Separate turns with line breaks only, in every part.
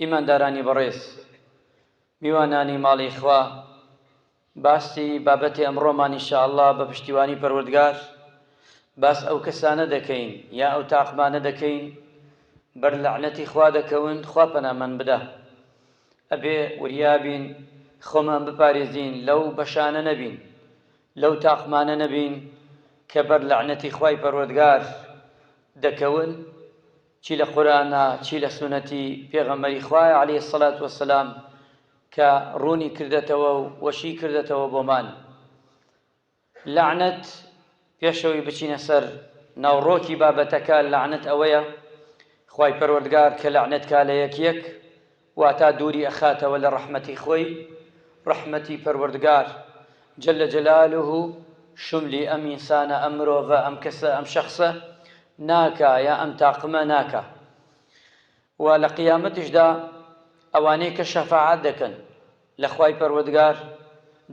ئیماندارانی بەڕێز، میوانانی ماڵی خوا، باسی بابەتی ئەمڕۆمان ان شاء اللە بە پشتیوانی پەروەردگار باس ئەو کەسانە دەکەین یا ئەو تاقمانە دەکەین بەر لەعنەتی خوا دەکەون خوا پەنامان بدا ئەبێ وریابین خۆمان بپارێزین لەو بەشانە نەبین لەو تاقمانە نەبین کە بەر لەعنەتی خوای پەروەردگار دەکەون چی لە قورئانە چی لە سوننەتی پێغەمبەری خوایە علیە سەلات وەسەلام کە ڕوونی کردەتەوە و وەشی کردەتەوە بۆمان لەعنەت پێشەوەی بچینە سەر ناوڕۆکی بابەتەکە لەعنەت ئەوەیە خوای پەروەردگار کە لەعنەت کا لە یەک یەک واتا دووری ئەخاتەوە لە ڕەحمەتی خۆی، ڕەحمەتی پەروەردگار، جل جلالە، شوملی ئەم ئینسانە، ئەم مرۆڤە، ئەم کەسە، ئەم شەخسە، ناکا، یا ئەم تاقمە ناکا. وە لە قیامەتیشدا ئەوانەی کە شەفاعەت دەکەن، لە خوای پەروەردگار،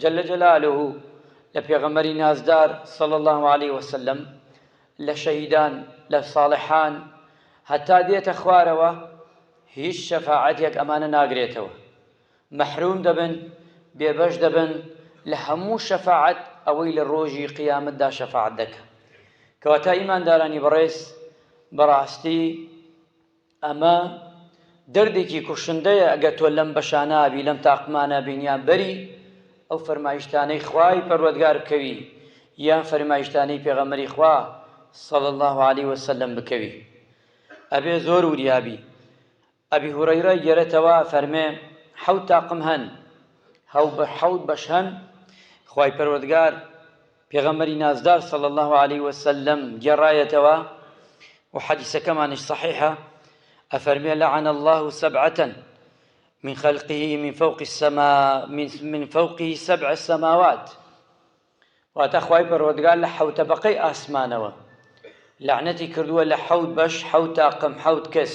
جل جلالە، و لە پێغەمبەری نازدار، صلی اللە علیە وسلم، لە شەهیدان، لە صاڵحان، هەتا دێتە خوارەوە هیچ شەفاعەتێک ئەمانە ناگرێتەوە، مەحروم دەبن، بێبەش دەبن لە هەموو شەفاعەت ئەوەی لە ڕۆژی قیامەتدا شەفاعەت دەکا. کەواتە ئیماندارانی بەڕێز بەڕاستی ئەمە دەردێکی کوشندەیە ئەگەر تۆ لەم بەشانە بی لەم تاقمانە بین یان بەری ئەو فەرمایشتانەی خوای پەروەردگار بکەوی یان فەرمایشتانەی پێغەمبەری خوا صلی اللە علیە وسلم بکەوی ئەبێ زۆر وریا بی ئەبی هورەیرە گێرەتەوە فەرمێ حەوت تاقم هەن هەو بە حەوت بەش هەن خوای پەروەردگار پێغەمبەری نازدار صلی اللە علیە وسلم گێڕایەتەوە و حەدیسەکەمانیش صحیحە ئەفەرمێ لعن الله سبعة من خلقه من فوق السماء من, من فوقه سبع السماوات واتە خوای پەروەردگار لە حەوت تەبەقەی ئاسمانەوە لەعنەتی کردووە لە حەوت بەش حەوت تاقم حەوت کەس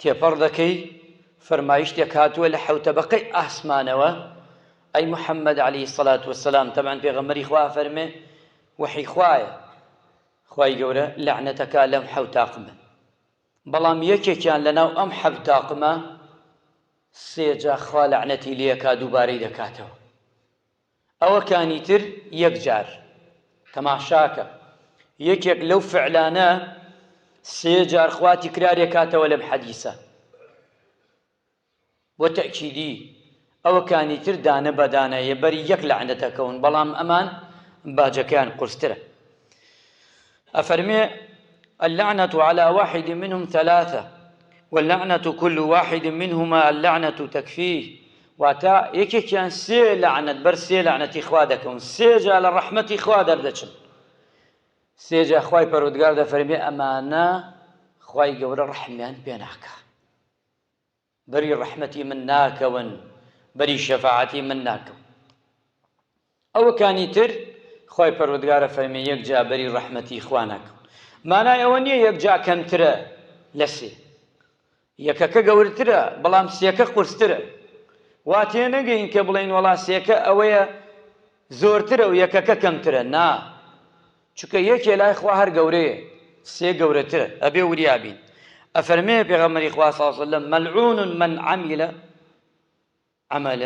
تێپەڕ دەکەی فەرمایشتێک هاتووە لە حەوتەبەقەی ئاسمانەوە ئەی محمد علی سلات وسلام تەبان پێغەمەری خوا فەرمێ وحی خوایە خوای گەورە لەعنەتەکە لەم حەوتاقمە بەڵام یەکێکیان لەناو ئەم حەوتاقمە سێجا خوا لەعنەتی لێکا دووبارەی دەکاتەوە ئەوەکانی تر یەک جار تەماشاکە یەکێک لەو فعلانە سێ جار خوا تکرارێ کاتەوە لەم حەدیسە بۆ تەکیدی ئەوەکانی تر دانە بەدانە یە بەری یەک لەعنەتەکەون بەڵام ئەمان باجەکەیان قورسترە ئەفەرمێ، اللعنە علی واحد منهم ثلاثە، واللعنە کل واحد منهما اللعنە تکفیه، واتە، یەکێکیان سێ لەعنەت بەر سێ لەعنەتی خوا دەکەون، سێ جا لە ڕەحمەتی خوا دەردەچن. سێ جا خوای پەروەردگار دەفەرمێ ئەمانە خوای گەورە ڕەحمیان پێ ناکا. بەری ڕەحمەتی من ناکەون بەری شەفاعەتی من ناکەون ئەوەکانی تر خوای پەروەدگارە فەرمی یەک جا بەری ڕەحمەتی خوا ناکەون مانای ئەوە نیە یەک جا کەمترە لە سێ یەکەکە گەورترە بەڵام سێکە قورسترە وا تێ نەگەین کە بڵێین وەڵا سێکە ئەوەیە زۆرترە و یەکەکە کەمترە نا چونکە یەکێ لای خوا هەر گەورەیە سێ گەورەترە ئەبێ وریا بین ئەفەرمێ پێغەمبەری خوا صلی اللە علیە وسلم ملعون من عمل عمل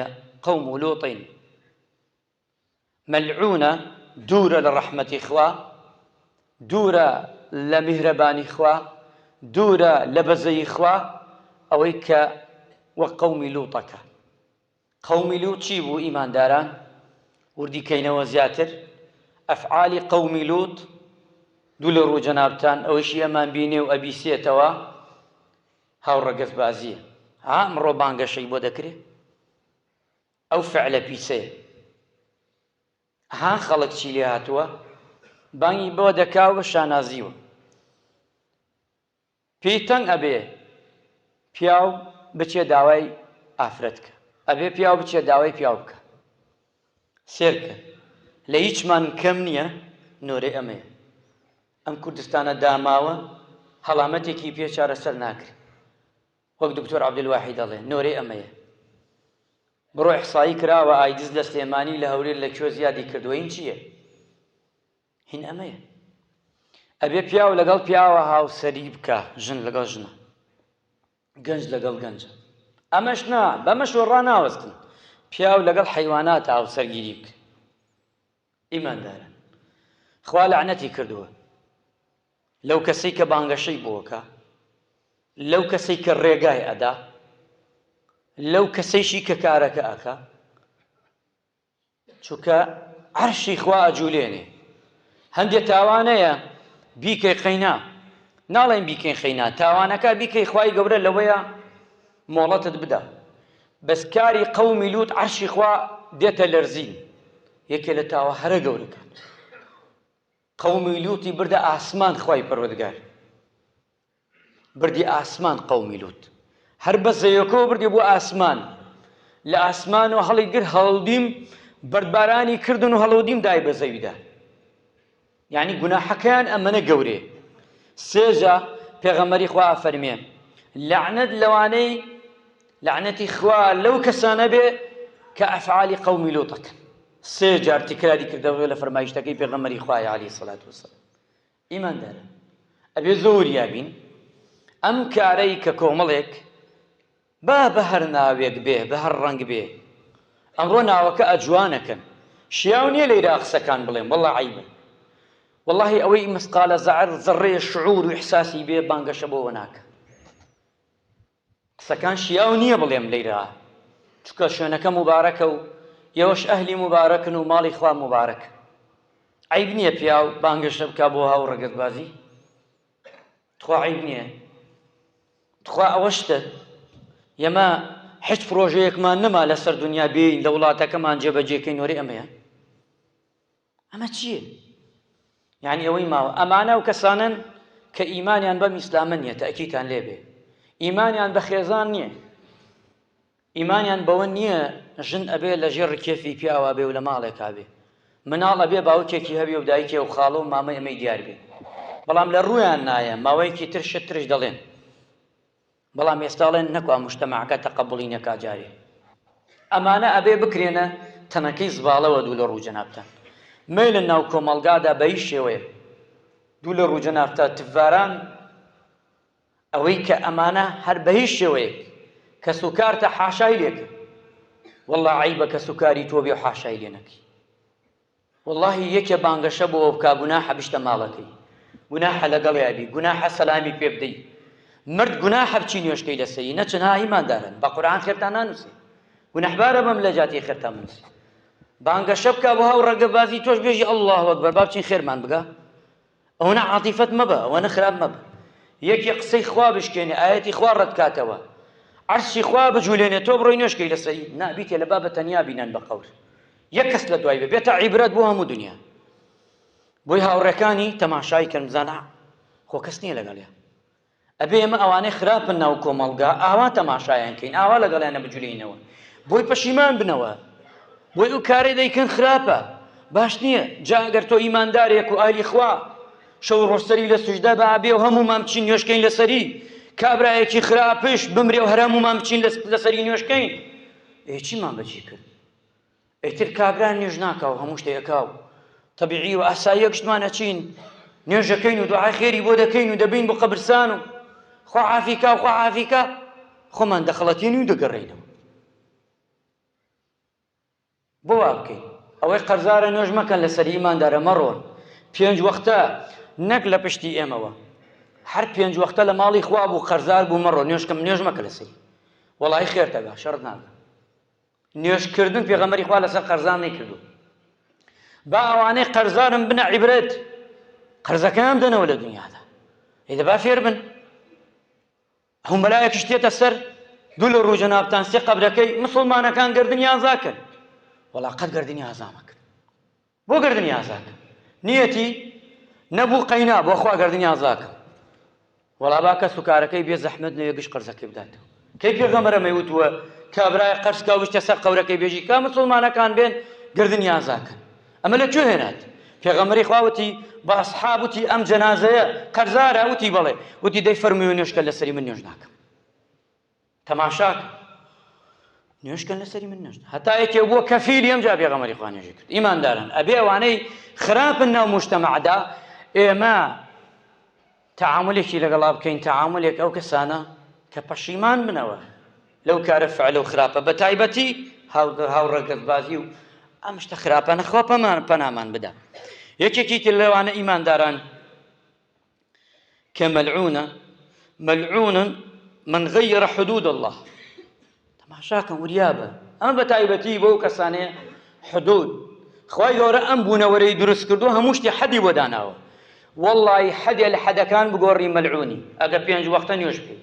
قوم لوط ملعونە دوورە لە ڕەحمەتی خوا دوورە لە میهرەبانی خوا دوورە لە بەزەیی خوا ئەوەی کە وە قومی لوتەکە قومی لوط چی بوو ئیمانداران وردی کەینەوە زیاتر ئەفعالی قومی لوط دوو لە ڕوو جەنابتان ئەوەیشی ئەمان بینێ و ئەبیسێتەوە هاو ڕەگەز بازیە ها ئەمڕۆ بانگەشەی بۆ دەکرێ ئەو فعلە پیسەیە ها خەڵک چی لێ هاتووە بانگی بۆ دەکاو بە شانازیوە پێی تەنگ ئەبێ پیاو بچێ داوای ئافرەت کا. ئەبێ پیاو بچێ داوای پیاو بکا. سێرکە لە هیچمان کەم نیە نۆرەی ئەمەیە ئەم کوردستانە داماوە هەڵامەتێکی پێ چارەسەر ناکرێ وەک دکتۆر عبدالواحید ئەڵێ نۆرەی ئەمەیە بڕۆ احصایی کراوە ئایدز لە سلێمانی لە هەولێر لە کوێ زیادی کردوە این چیە؟ هین ئەمەیە ئەبێ پیاو لەگەڵ پیاوە هاوسەری بکا ژن لەگەڵ ژنە گەنج لەگەڵ گەنجە ئەمەش نا بەمەش وەڕا ناوەستن پیاو لەگەڵ حەیوانات هاوسەرگیری بکە ئیماندارە خوا لەعنەتی کردووە لەو کەسەی کە بانگەشەی بۆکە لەو کەسەی کە ڕێگای ئەدا لەو کەسەیشی کە کارەکە ئەکە چونکە عەرشی خوا ئەجولێنێ هەندێ تاوانەیە بیکەی قەینا ناڵێن بیکەین خەینا تاوانەکە بیکەی خوای گەورە لەوەیە مۆڵەتت بدا بەس کاری قەومی لوت عەرشی خوا دێتە لەرزین یەکێ لە تاوە هەرە گەورەکان قەومی لوتی بردە ئاسمان خوای پەروەردگار بردی ئاسمان قەومی لوت هەر بە زەوێکەوە بردی بۆ ئاسمان لە ئاسمان و هەڵی گر هەڵدیم بەردبارانی کردن و هەڵودیم دای بە زەویدا یعنی گوناحەکەیان ئەمەە گەورێ سێجا پێغەمەری خوا فەرمێ لەعنەت لەوانەی لەعنەتی خوا لەو کەسانە بێ کە ئەفعالی قەومی لۆتەکەن سێ جار تکراری کردەوە لە فەرمایشتەکەی پێغەمەری خوای علی سلات وسلام ئیمانداران ئەبێ زۆر وریا بین ئەم کارەی کە کۆمەڵێک با بە هەر ناوێک بێ بە هەر ڕەنگ بێ ئەمڕۆ ناوەکە ئەجوانەکەن شیاو نییە لە ئیراق قسەکان بڵێم وەڵڵا عەیبە وەڵڵاهی ئەوەی مسقالە زەعر زەڕڕەیە شعور و ئیحساسی بێ بانگەشە بۆوە ناکا قسەکان شیاو نیە بڵێم لەیرا چونکە شوێنەکە موبارەکە و ئێوەش ئەهلی موبارەکن و ماڵی خوا موبارەکە عەیب نیە پیاو بانگەشە بکا بۆ هاو ڕەگەزبازی تخوا عەیب نیە تخوا ئەوە شتە یەمە حچ پرۆژەیەکمان نەما لەسەر دنیا بێین لە وڵاتەکەمان جێبەجێکەین وەرێ ئەمەیە ئەمە چییە؟ یانی ئەوەی ماوە ئەمانە ئەو کەسانن کە ئیمانیان بەم ئیسلامە نییە تاکیتان لێبێ ئیمانیان بە خێزان نییە ئیمانیان بەوە نییە ژن ئەبێ لە ژێر ڕکێفی پیاوا بێ و لە ماڵێکا بێ مناڵ ئەبێ باوکێکی هەبێ و دایکێ و خاڵۆ و مامە ئەمەی دیار بێ بەڵام لە ڕویان نایە ماوەیەکی ترشە ترش دەڵێن بەڵام ئێستا ئەڵێن نەکوا موجتەمەعەکە تەقەبوڵی نەکا جارێ ئەمانە ئەبێ بکرێنە تەنەکەی زباڵەوە دوو لە ڕوو جەنابتان مەیلە ناو کۆمەڵگادا بە هیچ شێوەیەک دوو لە ڕوو جەنابتا تفڤاران ئەوەی کە ئەمانە هەر بە هیچ شێوەیەک کەس و کارتە حاشای لێکە واللە عەیبە کەس و کاری تۆ بێ و حاشای لێ نەکەی وەڵاهی یەکێ بانگەشە بۆوە بکا گوناحە بچتە ماڵەکەی گوناحە لەگەڵیا بی گوناحە سەلامی پێ بدەی مرد گوناحە بچی نوێژکەی لەسەری نەچن ها ئیماندارن بە قورئان خێرتان نانووسێ گوناحبارە بم لە جاتی خێرتان بنووسێ بانگەشە بکا بۆ هاو ڕەگە بازی تۆش بێژی اللە اکبر با بچین خێرمان بگا ئەوەنە عاتیفەت مەبە ئەوەنە خراپ مەبە یەکێ قسەی خوا بشکێنێ ئایەتی خوا ڕەت کاتەوە عەرشی خوا بجولێنێ تۆ بڕۆی نوێشکەی لەسەری نا بیتێ لە بابە تەنیا بینەن بە قەور یەک کەس لە دوای بێ بێتە عیبرەت بۆ هەموو دنیا بۆی هاوڕێکانی تەماشای کەن بزانە خۆ کەس نییە لەگەڵیان ئەبێ ئێمە ئەوانەی خراپن ناو کۆمەڵگا ئاوا تەماشایان کەین ئاوا لەگەڵیانە بجولێینەوە بۆی پەشیمان بنەوە بۆی ئەو کارەی دەیکەن خراپە باش نییە جا ئەگەر تۆ ئیماندارێک و ئالی خوا شەو ڕۆسەری لە سوژدە بە ئەبێ و هەموو مام بچین نوێشکەین لەسەری کابراایەکی خراپش بمرێ و هەرمومان بچین لەسەری نوێشکەین ئێ چیمان بەچی کرد ئیتر کابرا نوێژ ناکا و هەموو شتێ ئەکا و تەبیعی و ئاسایی یەکشتمان ئەچین نوێژەکەین و دوعای خێری بۆ دەکەین و دەبین بۆ قەبرسان و خوا عافی کا و خوا عافی کا خۆمان دەخڵەتێنین و دەگەڕێینەوە بۆ وا بکەین ئەوەی قەرزارە نوێژ مەکەن لەسەر ئیماندارە مەڕۆن پێنج وەختە نەک لە پشتی ئێمەوە هەر پێنج وەختە لە ماڵی خوا بوو قەرزار بوو مەڕۆ نوێژکەم نوێژ مەکە لەسەری وەڵی خێرتەگا شەڕت ناگە نوێژ کردن پێغەمبەری خوا لەسەر قەرزان نەیکردو با ئەوانەی قەرزارم بنە عیبرەت قەرزەکەیان دەنەوە لە دنیادا ئیدە با فێر بن هەم بەلایەکیش تێتە سەر دوو لە ڕوو جەنابتان سێ قەبرەکەی مسلمانەکان گردنیان زاکەن وەڵا قەت گردنی ئازامەکە بۆ گەردنی ئازاکە نیەتی نەبوو قەینا بۆ خوا گەردنی ئازاکە وەڵا با کەس و کارەکەی بێ زەحمەت نەوێ گشت قەرزەکەی بداتەوە کەی پێغەمبەرە مەیوتووە کابرای قەرز کا وشتە سەر قەورەکەی بێژی کا مسلمانەکان بێن گەردنی ئازاکە ئەمە لە کوێ هێنات پێغەمبەری خوا وتی با اصحاب وتی ئەم جەنازەیە قەرزارە وتی بەڵێ وتی دەی فەرمووی نوێشکە لەسەری من نوێژ ناکەم تەماشاکە نوێشکەن لەسەری من نشت هەتا یەکێ بووە کەفیلی ئەم جا پێغەمەری خوا نوێژی کرد ئیماندارن ئەبێ ئەوانەی خراپن ناو مشتەمەعدا ئێمە تعاملێکی لەگەڵا بکەین تعاملێک ئەو کەسانە کە پەشیمان منەوە لەو کارە فعلە و خراپە بە تایبەتی هاوڕەگەزبازی و ئەم شتە خراپە نەخوا پەمان پەنامان بدا یەکێکی تر لەوانە ئیمانداران کە مەلعونە مەلعون من غیر حدود الله تەماشاکەم وریابە ئەمە بە تایبەتی بۆ کەسانەیە حدود خی گەورە ئەم بوونەوەرەی دروست کردو هەموو شتی حەدی بۆ داناوە واللهی حەدێ لە حەدەکان بگۆڕی مەلعونی ئەگە پێنج وەختە نوێش بکەیت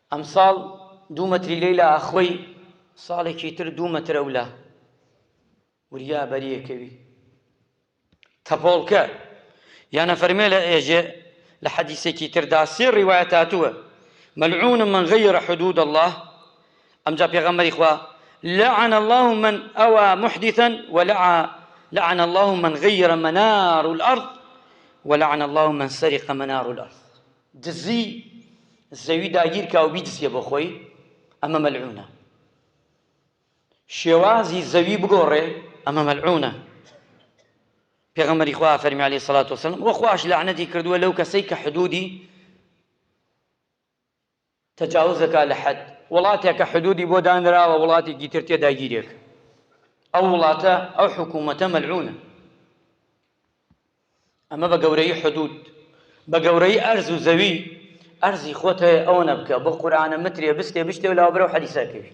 ئەمساڵ دوو مەتری لێلا ئەخۆی ساڵێکی تر دوو مەتر ئەولا وریا بەریەکەوی تەپۆڵکە یانە فەرمێ لە ئێژێ لە حەدیسێکی تردا سێ ڕیوایەت هاتووە مەلعون من غیر حدود الله ئەمجا پێغەمبەری خوا لعن الله من أوى محدثا ولعا لعن الله من غير منار الأرض ولعن الله من سرق منار الأرض دزی زەوی داگیر کا و بیدزیە بۆ خۆی ئەمە مەلعونە شێوازی زەوی بگۆڕێ ئەمە مەلعونە پێغەمبەری خوا فەرمی علیه الصلاة والسلام وە خواش لعنەتی کردووە لەو کەسەی کە حدودی تجاوز دەکات لە حەد. وڵاتێک کە حدودی بۆ دانراوە وڵاتێکی تر تێدا گیری ئەکات ئەو وڵاتە ئەو حکومەتە مەلعونە ئەمە بە گەورەی حدود بە گەورەی ئەرز و زەوی ئەرزی خۆت هەیە ئەوە نەبکە بۆ قورآانە مترێ بستێ بشتێ و لاوەبرەو حەدیسەکەوی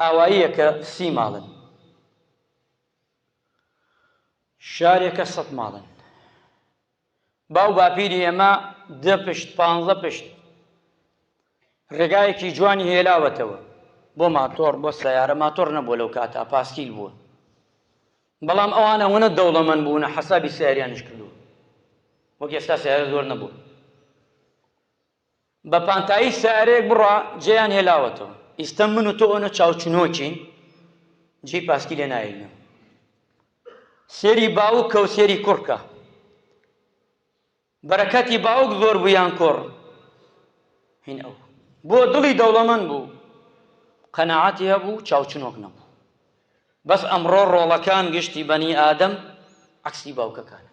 ئاواییە کە سی ماڵن. شارێ کە سەد ماڵن. باو باپیری ئێمە دە پشت، پانزە پشت ڕێگایەکی جوانی هێلاوەتەوە بۆ ماتۆڕ، بۆ سەیارە، ماتۆڕ نەبووە لەو کاتە، پاسکیل بووە. بەڵام ئەوان ئەوەنە دەوڵەمەند بوونە حەسابی سەیاریانیش کردووە. وەک ئێستا سەیارە زۆر نەبووە. بە پانتایی سەیارەیەک بڕا جێیان هێلاوەتەوە ئیستە من و تۆ ئۆنە چاوچنۆکین جێی پاسکی لێ ناێنەوە سێری باوک کە و سێری کوڕکە بەرەکەتی باوک زۆر بوویان کۆڕ هین ئەو بۆ دڵی دەوڵەمەن بوو قەنەعاتی هەبوو چاوچنۆک نەبوو بەس ئەمڕۆ ڕۆڵەکان گشتی بەنی ئادەم عکسی باوکەکانە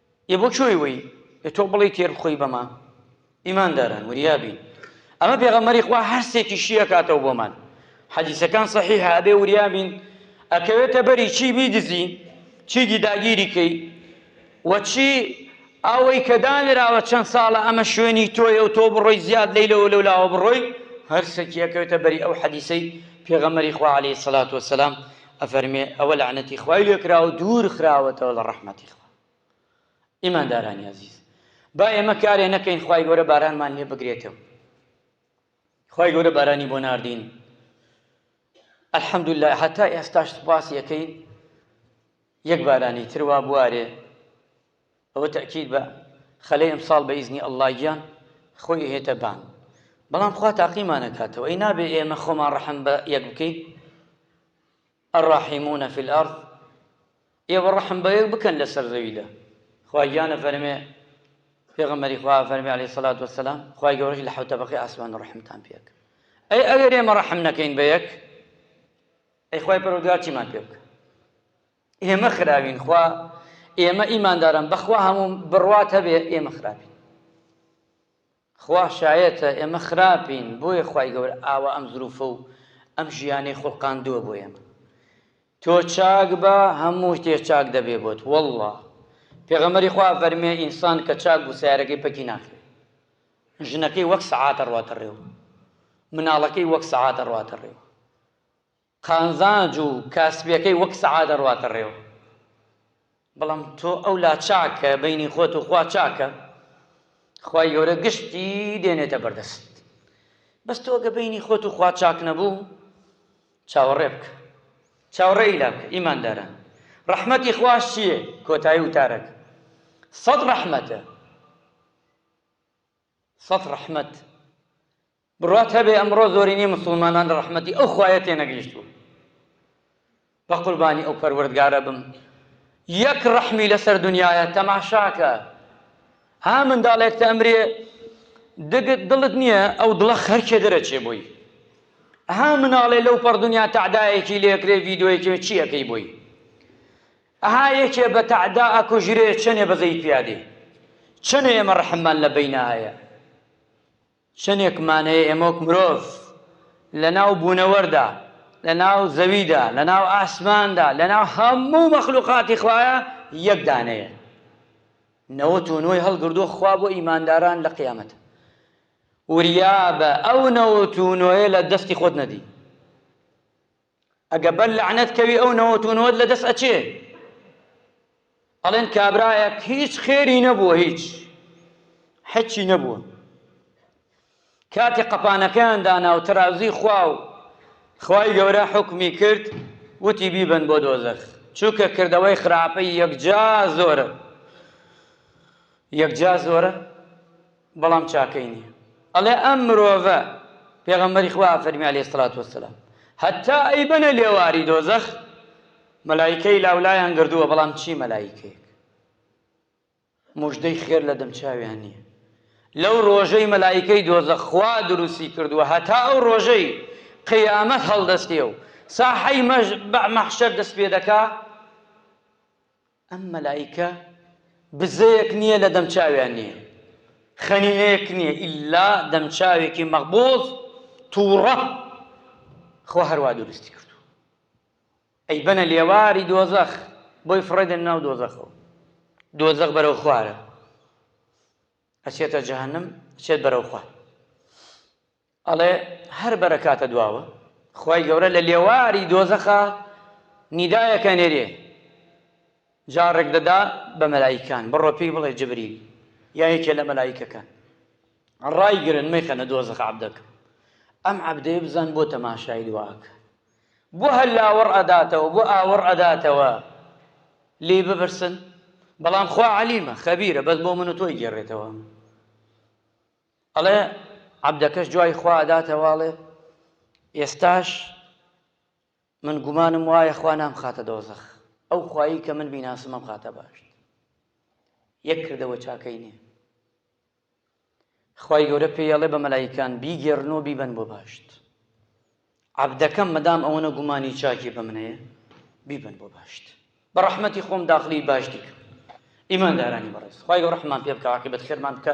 ئێ بۆ کۆی وەی ئێ تۆ بڵێی تێر بخۆی بەما ئیمان داران وریا بین ئەمە پێغەمبەری خوا هەر سێ تیشی ئەکاتەوە بۆمان حەدیسەکان صحیحە ئەبێ وریا بین ئەکەوێتە بەری چی بیدزی چیدی داگیری کەی و چی ئەوەی کە دانراوە چەند ساڵە ئەمە شوێنی تۆیە و تۆ بڕۆی زیاد لەی لەوە لەو لاوە بڕۆی هەر سەکیەکەوێتە بەری ئەو حەدیسەی پێغەمەری خوا عليه سلات وسلام ئەفەرمێ ئەوە لەعنەتی خوای لێکراوە دوور خراوەتەوە لە ڕەحمەتی خوا ئیماندارانی ئازیز با ئێمە کارێ نەکەین خوای گەورە بارانمان لێ بگرێتەوە خوای گەورە بارانی بۆ ناردین الحمد لله هەتا ئێستاش سپاس یەکەین یەک بارانی تروا بوارێ ئەوە تەکیید بە خەلەی ئەمساڵ بە ئیزنی ئەلله گیان خۆی هێتە بان بەڵام خوا تاقیمانەکاتەوە ئەی نابێ ئێمە خۆمان ڕەحم بە یەک بکەین الراحمون فی الارض ئێوە ڕەحم بەیەک بکەن لەسەر زەویدا خوا گیان ئەفەرمێ پێغەمبەری خوا ئەفەرمێ عەلەیهی سەڵات وەسەلام خوای گەورەش لە حەوت تەبەقەی ئاسمان ڕەحمتان پێ ئەکا ئەی ئەگەر ئێمە ڕەحم نەکەین بە یەک ئەی خوای پەروەردگار چیمان پێ بکە ئێمە خراوین خوا ئێمە ئیمانداران بەخوا هەموو بڕوات هەبێ ئێمە خراپین خوا شایەتە ئێمە خراپین بۆیە خوای گەورە ئاوا ئەم زروفە و ئەم ژیانەی خوڵقاندووە بۆ ئێمە تۆ چاک بە هەموو شتێ چاک دەبێ بۆت واللە پێغەمبەری خوا ئەفەرمێ ئینسان کە چاک بوو سەیارەکەی پەکی ناکرێ ژنەکەی وەک سەعات ئەڕواتە ڕێوە مناڵەکەی وەک سەعات ئەڕواتە ڕێوە قانزاج و کاسبیەکەی وەک سەعا دەڕواتە ڕێوە بەڵام تۆ ئەو لا چاکە بینی خۆت و خوا چاکە خوای گەورە گشتی دێنێتە بەردەست بەس تۆ گە بینی خۆت و خوا چاک نەبوو چاوەڕێ بکە چاوەڕێ ئیلا بکە ئیماندارە ڕەحمەتی خواش چییە کۆتایی وتارەکە سەد ڕەحمەتە سەد ڕەحمەت بڕوات هەبێ ئەمڕۆ زۆرینەی موسڵمانان لە ڕەحمەتی ئەو خوایە تێنەگەیشتوون بە قوربانی ئەو پەروەردگارە بم یەک ڕەحمی لەسەر دنیاە تەماشاکە ها منداڵێک تە ئەمرێ دگت دڵت نییە ئەو دڵە خەرکێ دەرەچێ بووی ها مناڵێ لەو پەڕ دنیا تەعدایەکی لێکرێ ڤیددیوەیەکی چیەکەی بووی ئەها یەکێ بە تەعدا ئەکوژرێ چەنێ بەزەی پیا دێ چەنێ ئێمە ڕەحممان لە بەینا هەیە چەنێکمان هەیە ئێمە وەک مرۆڤ لە ناو بوونەوەردا لە ناو زەویدا لە ناو ئاسماندا لە ناو هەموو مەخلوقاتی خوایە یەک دانەیە نەوەت و نۆی هەڵگردووە خوا بۆ ئیمانداران لە قیامەت وریابە ئەو نەوەت و نۆیە لە دەستی خۆت نەدی ئەگە بەر لەعنەت کەوی ئەو نەوەت و نەوەت لەدەست ئەچێ ئەڵێن کابرایەک هیچ خێری نەبووە هیچ حەچی نەبووە کاتی قەپانەکەیان دانا و تەرازوی خوا و خوای گەورە حکمی کرد وتی بیبن بۆ دۆزەخ چونکە کردەوەی خراپەی یەکجا زۆرە یەکجا زۆرە بەڵام چاکەی نیە ئەڵێ ئەم مرۆڤە پێغەمبەری خوا ئەفەرمی علیە سڵات وسلام هەتا ئەیبەنە لێواری دۆزەخ مەلایکەی لاولایان گردووە بەڵام چی مەلایکەیەک مژدەی خێر لە دەمچاویان نییە لەو ڕۆژەی مەلایکەی دۆزە خوا دروستی کردووە هەتا ئەو ڕۆژەی قیامەت هەڵدەستێ و ساحەی مەش بە مەحشەر دەست پێ دەکا ئەم مەلائیکە بزەیەک نیە لە دەم چاویان نیە خەنینەیەک نیە ئیلا دەم چاوێکی مەغبوز توڕە خوا هەروا دروستی کرد ئەی بەنە لێواری دۆزەخ بۆی فڕێدن ناو دۆزەخەوە دۆزەخ بەرەو خوارە ئەچێتە جەهنم چێت بەرەو خوار ئەڵێ، هەر بەرەکاتە دواوە، خوای گەورە لە لێواری دۆزەخا نیدایەکە نێرێ، جا ڕێک دەدا بە مەلائیکان، بڕۆ پێی بڵێ جبریل یا یەکێ لە مەلائیکەکان ڕایگرن مەیخەنە دۆزەخ عەبدەکەم، ئەم عەبدەیە بزان بۆ تەماشای دوا ئەکا، بۆ هەر لاوەڕ ئەداتەوە، بۆ ئاوەڕ ئەداتەوە، لێی بپرسن، بەڵام خوا عەلیمە، خەبیرە، بەس بۆ من و تۆی گێڕێتەوە. ئەڵێ، عەبدەکەش دوای خوا ئەداتەوە ئەڵێ، ئێستاش من گومانم وایە خوا نامخاتە دۆزەخ، ئەو خوایی کە من بیناسم ئەمخاتە بەهەشت. یەک کردەوە چاکەی نییە. خوای گەورە پێی ئەڵێ بە مەلایکان، بیگێڕن و بیبەن بۆ بەهەشت. عەبدەکەم مەدام ئەوەنە گومانی چاکی بە من هەیە، بیبەن بۆ بەهەشت. بە ڕەحمەتی خۆم داخلی بەهەشتی کەم. ئیماندارانی بەڕێز، خوای گەورە ڕەحممان پێ بکا و عاقیبەت خێرمان بکا.